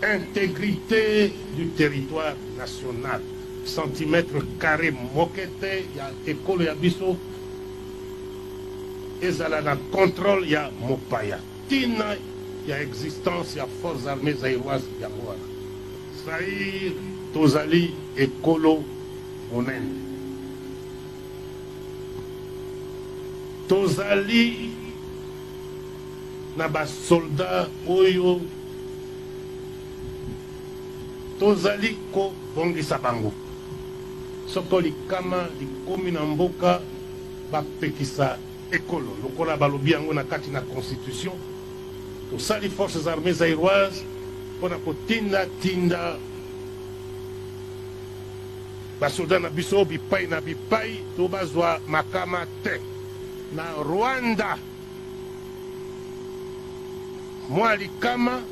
Integrite du territoire national centimetre carre moke te ya ekolo ya biso ezala na controle ya mopaya tina ya existence ya forces armées zaïroise yango wana zaire tozali ekolo monene tozali na ba soldats oyo tozali kobongisa bango soko likama likomi na mboka bapekisa ekolo lokola balobi yango na kati na constitution tosali forces armées zairoise mpo na kotindatinda basoda na biso bipai na bipai to bazwa makama te na rwanda Mwa likama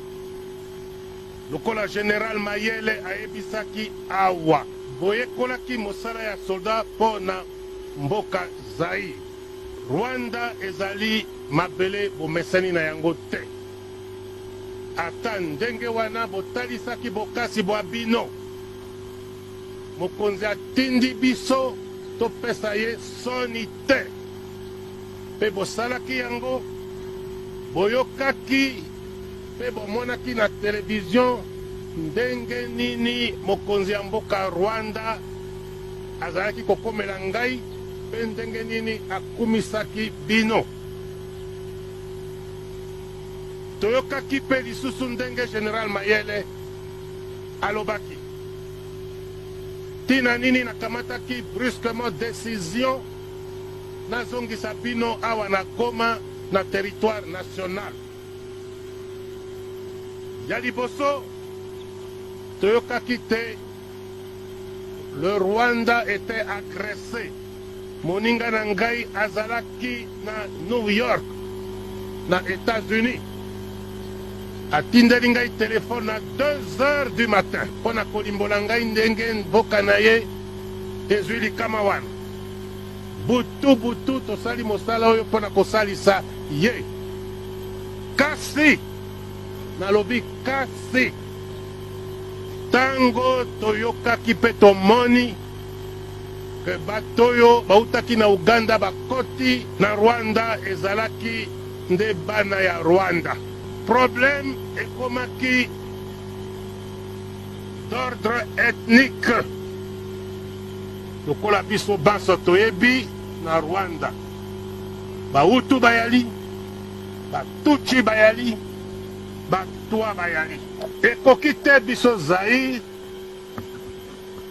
lokola General Mayele ayebisaki awa boyekolaki mosala ya soldat mpo na mboka Zaïre. Rwanda ezali mabele bomesani na yango te. Ata ndenge wana botalisaki bokasi bwa bino. Mokonzi atindi biso topesa ye soni te. Mpe bosalaki yango, boyokaki mpe bomonaki na televizio ndenge nini mokonzi ya mboka Rwanda azalaki kokomela ngai mpe ndenge nini akumisaki bino. Toyokaki mpe lisusu ndenge General Mayele alobaki ntina nini nakamataki brusquement decision Nazongisa bino awa na Goma, na territoire national. Ya liboso, toyokaki te le Rwanda était agressé. Moninga na ngai azalaki na New York, na Etats-Unis. atindeli ngai telefone na 2 heures du matin mpo na kolimbola ngai ndenge mboka na ye ezwi likama wana Butu butu tosali mosala oyo mpo na kosalisa ye. Kasi, nalobi kasi, ntango toyokaki mpe tomoni ke bato oyo bautaki na Uganda bakoti na Rwanda ezalaki nde bana ya Rwanda. Problème ekomaki d'ordre ethnique. Lokola biso banso toyebi, na Rwanda ba Hutu bayali, ba Tutsi bayali, ba Twa bayali. Ekoki te biso Zaïre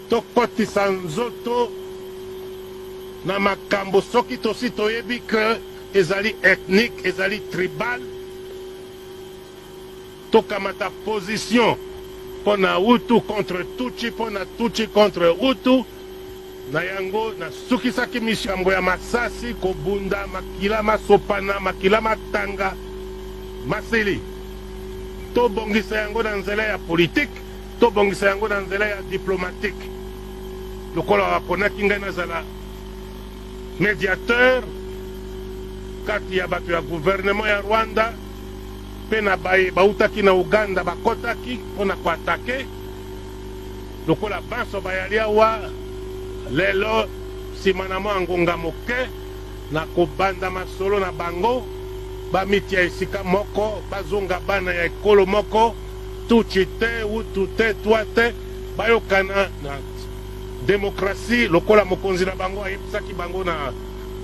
tokotisa nzoto na makambo soki tosi toyebi que ezali ethnique, ezali tribal. Tokamata position pona hutu contre tutshi pona tutshi contre hutu na yango na sukisaki mission yango ya masasi kobunda makila masopana makila matanga masili tobongisa yango na nzela ya politique tobongisa yango na nzela ya diplomatique lokola wakonaki ngai nazala mediateur kati ya bato ya gouvernement ya rwanda mpe na baye bawutaki na Ouganda bakotaki mpo na ko attaquer, lokola banso bayali awa lelo, sima na mua ngonga moke na kobanda masolo na bango, bamitia esika moko, bazonga bana ya ekolo moko, Tutshi te, Hutu te, Twa te, bayokana na democratie lokola mokonzi na bango ayebisaki bango na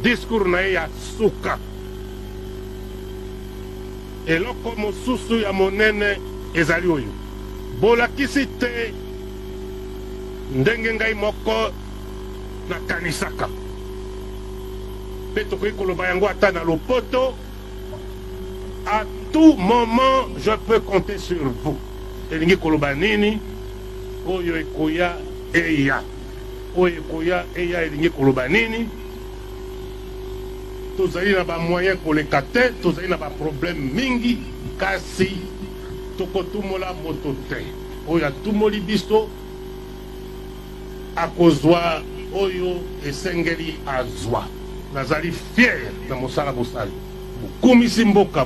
discours na ye ya suka. Eloko mosusu ya monene ezali oyo, Bolakisi te ndenge ngai moko nakanisaka. Mpe tokoki koloba yango ata na lopoto, A tout moment je peux compter sur vous. Elingi koloba nini? Oyo ekoya eya, oyo ekoya eya elingi koloba nini? Tozali na ba moyens koleka te, tozali na ba problèmes mingi kasi tokotumola moto te. Oyo atumoli biso akozwa oyo esengeli azwa. Nazali fier na mosala bosali, bokumisi mboka.